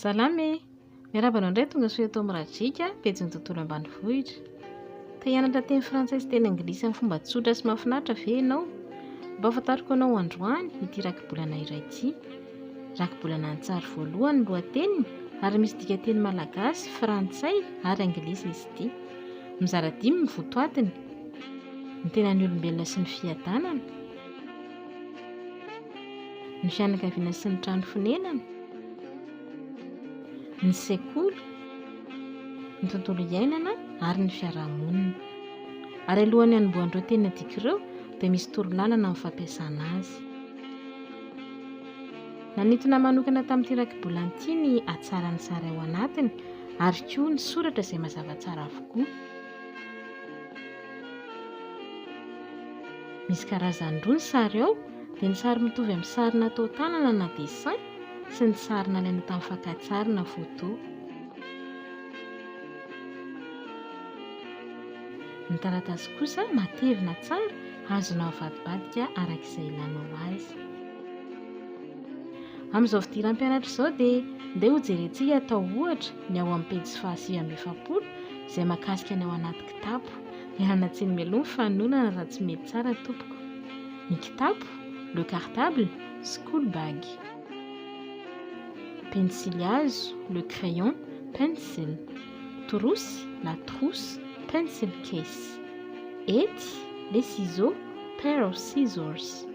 Salama e! Miarahaba anao indray tongasoa eto amin'ny Rajika, pejin'ny tontolo ambanivohitra. Te hianatra teny frantsay sy teny anglisy amin'ny fomba tsotra sy mahafinaritra ve ianao? Ampahafantariko anao androany ity rakibolana iray ity. Rakibolana an-tsary voalohany ny lohateniny ary misy dikanteny malagasy, frantsay ary anglisy izy ity. Mizara dimy ny votoatiny, ny tenan'ny olombelona sy ny fiadanana, ny fianakaviana sy ny trano fonenana, ny sekoly, ny tontolo iainana ary ny fiarahamonina. Ary alohan'ny hanombohan'ireo teny adika ireo dia misy torolalana amin'ny fampiasana azy. Nanintona manokana tamin'ity rakibolana ity ny hatsaran'ny sary ao anatiny ary koa ny soratra izay mazava tsara avokoa. Misy karazany roa ny sary ao, dia ny sary mitovy amin'ny sary natao tanana na dessin sy ny sary nalaina tamin'ny fakantsary na photo. Ny taratasy kosa matevina tsara, azonao avadibadika araka izay ilanao azy. Amin'izao fidiram-pianatra izao dia ndeha hojerentsika atao ohatra ny ao amin'ny pejy fahasivy amby efapolo izay mahakasika ny ao anaty Kitapo, Miala tsiny mialoha ny fanononana raha tsy mety tsara tompoko. Ny kitapo, le cartable, school bag. Pensily hazo, le crayon, pencil. Trousse, la trousse, pencil case. Hety, les ciseaux, pair of scissors.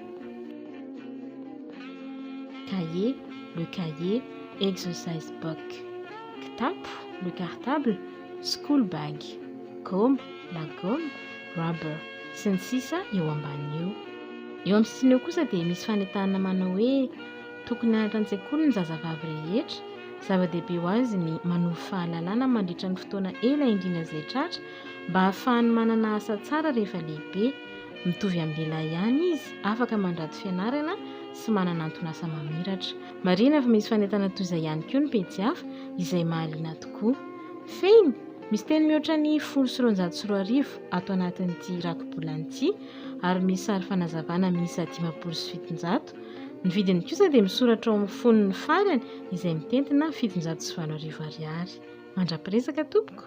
Cahier, le cahier, exercise book. Kitapo, le cartable, school bag, goma, lagoma, rubber, sy ny sisa eo ambanin' io. Eo amin'ny sisiny eo kosa dia misy fanentanana manao hoe tokony hianatra an-tsekoly ny zazavavy rehetra, zava-dehibe ho azy ny manovo fahalalana mandritra ny fotoana ela indrindra izay tratra mba hahafahany manana asa tsara rehefa lehibe, mitovy amin'ny lehilahy ihany izy, afaka mandrato fianarana sy manana anton'asa mamiratra. Marihina fa misy fanentanana toy izay ihany koa ny pejy hafa izay mahaliana tokoa. Fehiny, misy teny mihoatra ny folo sy roanjato sy roa arivo ato anatin'ity rakibolana ity ary misy sary fanazavana miisa dimampolo sy fitonjato. Ny vidiny kosa dia misoratra ao amin'ny fonony farany izay mitentina fitonjato sy valo arivo ariary. Mandra-piresaka tompoko!